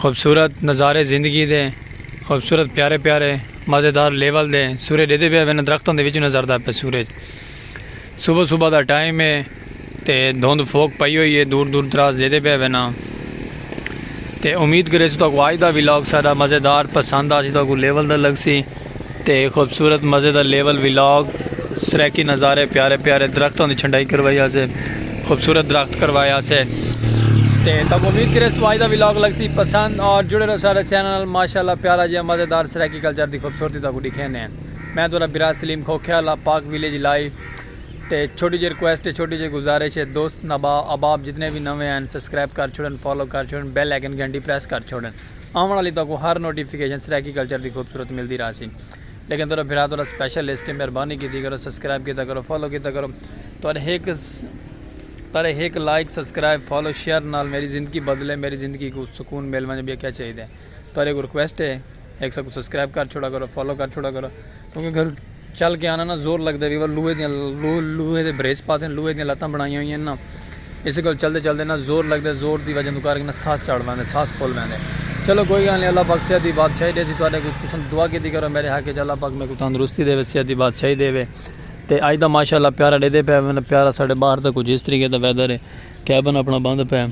خوبصورت نظارے زندگی دے خوبصورت پیارے پیارے مزیدار لیول دے سورج ڈیدے پئے ویندے درختاں دے وچوں نظر دا پئے سورج صبح صبح دا ٹائم ہے تے دھند فوک پئی ہوئی ہے دور دور دراز ڈیدے پئے وینا تے امید کریسوں تاکو آج دا ولاگ سارا مزیدار پسند آسی تاکو لیول دا لگ سی۔ تے خوبصورت مزے دا لیول ولاگ سرائیکی نظارے پیارے پیارے درختوں دی چھنڈائی کروائی آسے خوبصورت درخت کروایا آسے تے تب امید کرے سوائی دا ولاگ لگ سی پسند اور جڑے رہو سارے چینل ماشاءاللہ پیارا جی مزے دار سرائیکی کلچر دی خوبصورتی تاکو دکھینے ہیں میں تو برا سلیم کھوکھیا اللہ پاک ویلیج لائی تے چھوٹی جی ریکویسٹ ہے چھوٹی جی گزارش ہے دوست نبا اباب جتنے بھی نوے ہیں سبسکرائب کر چھوڑن فالو کر چھوڑن بیل ایکن گھنٹی پریس کر چھوڑن آوݨ آلی تہاکوں ہر نوٹیفیکیشن سرائیکی کلچر دی خوبصورت ملدی رہسی لیکن تہاڈا بھرا تہاڈا سپیشل لسٹ ہے مہربانی کیتی کرو سبسکرائب کیتا کرو فالو کیتا کرو تہاڈے ہک تہاڈے ہک لائک سبسکرائب فالو شیئر نال میری زندگی بدلے میری زندگی کوں سکون مل ونجے ٻیا کیا چاہیدا ہے تہاڈے کوں ریکویسٹ ہے ہک ساکوں سبسکرائب کر چھوڑا کرو فالو کر چھوڑا کرو کیونکہ گھر چل کے آنا نا زور لگدے وی ول لوہے دیاں لوہے دے بریچ پاتے لوہے دیاں لتاں بنائیاں ہوئیاں نا اسے کول چلدے چلدے نا زور لگدے زور دی وجہ کر کے نا ساس چڑھ ویندے ساس پھول ویندے چلو کوئی گل نہیں اللہ پاک صحت دی بادشاہی دے سی تواڈے کول تساں دعا کیتی کرو میرے حق وچ اللہ پاک میکو تندرستی دے صحت دی بادشاہی دے تے اج دا ماشاءاللہ پیارا ڈے دے پے پیارا ساڈے باہر دا کچھ اس طریقے دا ویدر ہے۔ کیبن اپنا بند پئے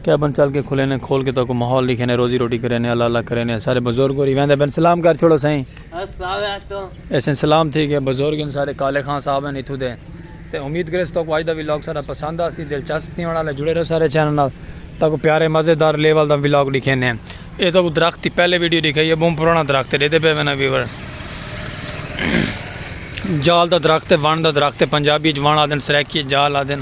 کیبن چل کے کھلے نے کھول کے تو کو ماحول لکھے نے روزی روٹی کرے نے اللہ اللہ کرے نے سارے بزرگ ہوری ویندے بن سلام کر چھوڑو سائیں ایسے سلام تھی گئے بزرگ ان سارے کالے خان صاحب ہیں اتھو دے تے امید کرے تو کو آج دا ویلاگ سارا پسند آسی دلچسپ تھی ہونا لے جڑے رہو سارے چینل نال تا کو پیارے مزیدار لیول دا ویلاگ لکھے نے اے تو کو درخت تھی پہلے ویڈیو دکھائی ہے بہت پرانا درخت دے دے پہ وینا ویور جال دا درخت ہے وان دا درخت ہے پنجابی جوان آدن سریکی جال آدن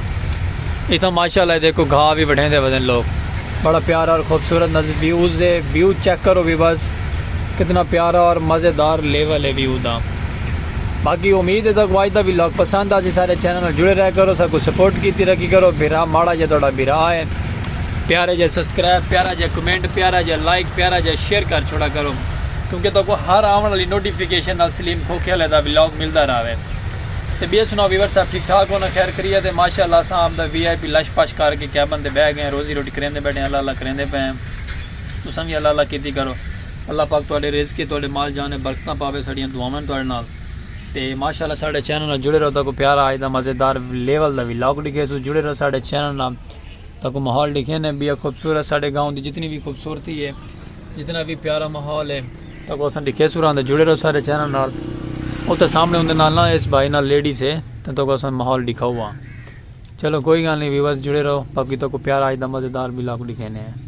اتھاں ماشاءاللہ اے دیکھو گھا وی وڈھیندے ودن لوگ۔ بڑا پیارا اور خوبصورت نظر ویوز ہے ویو چیک کرو بھی بس کتنا پیارا اور مزے دار لیول ہے ویو دا باقی امید ہے تاکو آج دا وی لاگ پسند آسی سارے چینل نال جڑے رہے کرو ساکو سپورٹ کیتی رکھی کرو بھرا ماڑا جا تہاڈا بھرا ہے پیارا جا سبسکرائب پیارا جا کمنٹ پیارا جا لائک پیارا جا شیئر کر چھوڑا کرو کیونکہ تاکو ہر آون والی نوٹیفکیشن نال سلیم کھوکھے والے دا وی لاگ ملدا راوے۔ تے ٻیے سناؤ ویور صاحب ٹھیک ٹھاک ہو نا خیر خریت ہے ماشاء اللہ اساں آپ دا وی آئی پی لش پش کر کے کیبن تے بہہ گئے روزی روٹی کریندے بیٹھے اللہ اللہ کریندے پئے ہیں تساں وی اللہ اللہ کیتی کرو اللہ پاک تہاڈے رزق تے تہاڈے مال جان تے برکتاں پاوے ساڈیاں دعاواں ہیں تہاڈے نال تے ماشاء اللہ ساڈے چینل نال جڑے رہو تاکو پیارا آج دا مزیدار لیول دا ولاگ ڈکھے سو جڑے رہو ساڈے چینل نال تاکو ماحول ڈکھے نے بیا خوبصورت ساڈے گاؤں دی جتنی وی خوبصورتی ہے جتنا بھی پیارا ماحول ہے تاکہ اساں ڈکھے سوران دے جڑے رہو سارے چینل نال او تے سامنے ہوندے نال نا اس بھائی نال لیڈی سے تے تاکہ اساں ماحول ڈکھا ہوا چلو کوئی گل نہیں ویورز جڑے رہو باقی تاکہ پیارا اج دا مزیدار بھی لاکھ ڈکھے نے ہیں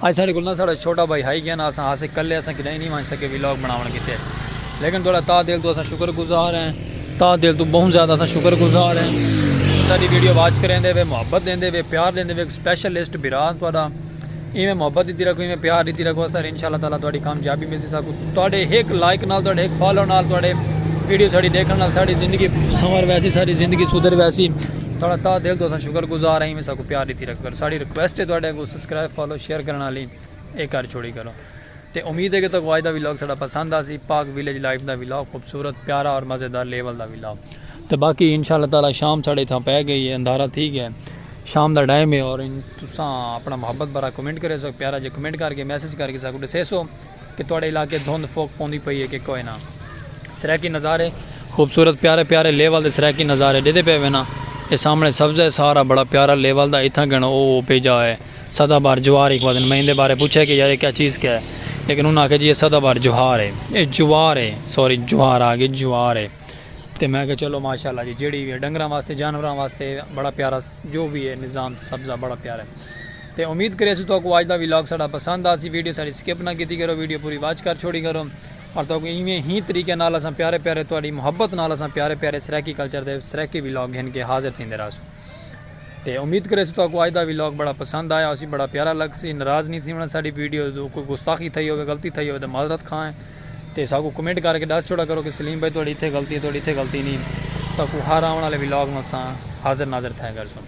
اج ساڈے کول نہ ساڈا چھوٹا بھائی ہائی گیا نہ اساں ہاسے کلے اساں کڈاہیں نی ونج سکے وی لاگ بناون کیتے لیکن تہاڈا تاہ دل توں اساں شکر گزار ہیں تاہ دل توں بہوں زیادہ اساں شکر گزار ہیں جو ساڈی ویڈیو واچ کریندے وے محبت دیندے وے پیار دیندے وے سپیشل لسٹ بھرا تہاڈا ایویں محبت دیتی رکھو ایویں پیار دیتی رکھو اساں ان شاءاللہ تعالی تہاڈی کامیابی ملسی ساکوں تہاڈے ہک لائک نال تہاڈے ہک فالو نال تہاڈے ویڈیو ساڈی دیکھن نال ساڈی زندگی سنور ویسی ساڈی زندگی سدھر ویسی تہاڈا تاہ دل توں اساں شکر گزار ہیں ایویں ساکوں پیار دیتی رکھیا کرو ساڈی ریکویسٹ ہے تہاڈے اگوں سبسکرائب فالو شیئر کرن آلی اے کر چھوڑی کرو تے امید ہے کہ تکو آج دا ویلاگ ساڈا پسند آسی پاک ویلیج لائف دا ویلاگ خوبصورت پیارا اور مزیدار لیول دا ویلاگ تے باقی انشاءاللہ تعالی شام ساڈے اتھاں پے گئی ہے اندھارا تھی گیا ہے شام دا ٹائم ہے اور تساں اپنا محبت بھرا کمنٹ کریسو پیارا جے کمنٹ کر کے میسج کر کے ساکو ڈسیسو کہ تہاڈے علاقے دھند فوک پوندی پئی ہے کہ کوئے نا سرائیکی نظارے خوبصورت پیارے پیارے لیول دے سرائیکی نظارے ڈیدے پئے وینا اے سامنے سبزہ ہے سارا بڑا پیارا لیول دا اتھاں گھنو او او پے جا ہے سدا بہار جوار ہی خوادن میں ایندے بارے پچھیا کہ یار اے کیا چیز کیا ہے لیکن انہاں آکھیا جی اے سدا بہار جوہار ہے اے جوار ہے سوری جوہار آگے جوار ہے تے میں آکھیا چلو ماشاءاللہ جی جیڑی وی ہے ڈنگراں واسطے جانوراں واسطے بڑا پیارا جو وی ہے نظام تے سبزہ بڑا پیار ہے تے امید کرے اسو توکو آج دا ویلاگ ساڑا پسند آسی ویڈیو ساڑی سکپ نہ کیتی کرو ویڈیو پوری واچ کر چھوڑی کرو اور توکو ایویں ہی طریقے نال اساں پیارے پیارے تواڈی محبت نال اساں پیارے پیارے سرائیکی کلچر دے سرائیکی ویلاگ گھن کے حاضر تھیندے رہسوں تے امید کرے اسو توکو آج دا ویلاگ بڑا پسند آیا ہوسی بڑا پیارا لگسی ناراض نہیں تھیونا ساڑی ویڈیو کوئی گستاخی تھئی ہوے غلطی تھئی ہوے تے معذرت خواہ ہیں تے ساکوں کمنٹ کر کے ڈس چھوڑا کرو کہ سلیم بھائی تہاڈی اتھے غلطی ہے تہاڈی اتھے غلطی نی تہاکوں ہر آون آلے ولاگ نال اساں حاضر ناظر تھیا کرسوں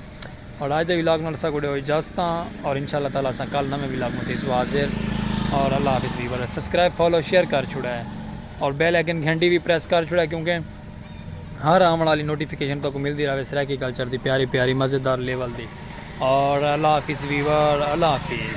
اور اج دے ولاگ نال اساکوں ڈیو اجازتاں اور ان شاء اللہ تعالی اساں کل نویں ولاگ نال تھیسوں حاضر اور اللہ حافظ ویورز سبسکرائب فالو شیئر کر چھوڑا اور بیل آئیکن گھنٹی وی پریس کر چھوڑا کیونکہ ہر آون آلی نوٹیفیکیشن تہاکوں ملدی رہے سرائیکی کلچر دی پیاری پیاری مزیدار لیول دی اور اللہ حافظ ویور اللہ حافظ